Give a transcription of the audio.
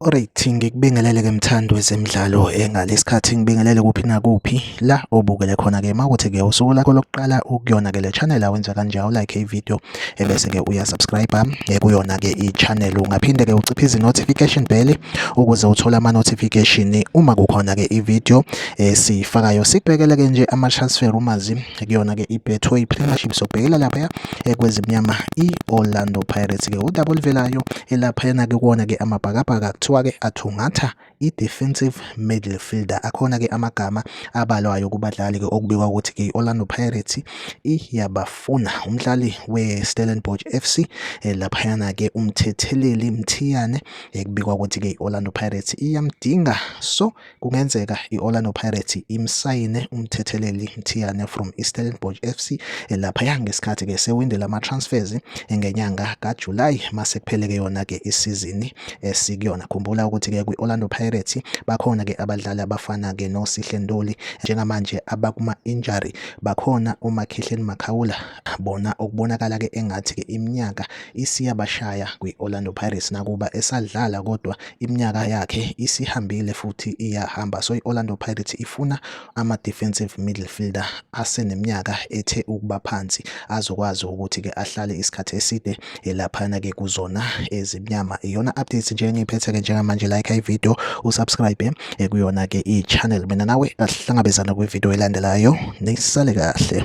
Alright, ngikubingelele ke mthandi wezemidlalo engale isikhathi ngibingelele kuphi nakuphi la obukele khona ke mawukuthi ke usuku lakho lokuqala ukuyona ke le channel awenza kanje awu like i video ebese ke uya subscribe eh, kuyona ke i channel ungaphinde ke uciphe izi notification bell ukuze uthole ama notification uma kukhona ke i video esiyifakayo sikubekele ke nje ama transfer umazi kuyona-ke ibetway premiership sobhekela laphaya eh, kwezimnyama i-orlando pirates-ke udaba oluvelayo elaphayana-ke kuwona-ke amabhakabhaka kuthiwa-ke athungatha i-defensive midfielder akhona-ke amagama abalwayo kubadlali-ke okubikwa ukuthi-ke i-orlando pirates iyabafuna umdlali we-stellenbosch f c eh, laphayana-ke umthetheleli mthiyane ekubikwa eh, ukuthi-ke i-orlando pirates iyamdinga so Kungenzeka i-Orlando Pirates imsayine umthetheleli Mthiyane from iStellenbosch FC elaphaya ngesikhathi ke sewinde lama-transfers ngenyanga kaJuly mase kuphele-ke yona-ke isizini esikuyona. Khumbula ukuthi-ke kwi-Orlando Pirates bakhona-ke abadlali abafana-ke noSihle Ntuli njengamanje abakuma-injury bakhona uMakhihleni Makhaula bona okubonakala-ke engathi-ke iminyaka isiyabashaya kwi-Orlando Pirates nakuba esadlala kodwa iminyaka yakhe isihambile futhi iyahamba so i-Orlando Pirates ifuna ama-defensive midfielder aseneminyaka ethe ukuba phansi azokwazi ukuthi-ke ahlale isikhathi eside elaphana-ke kuzona ezimnyama iyona updates nje engiyiphethe-ke njengamanje like ivideo usubscribe eh, kuyona-ke i-channel mina nawe asihlangabezana kwivideo elandelayo nisale kahle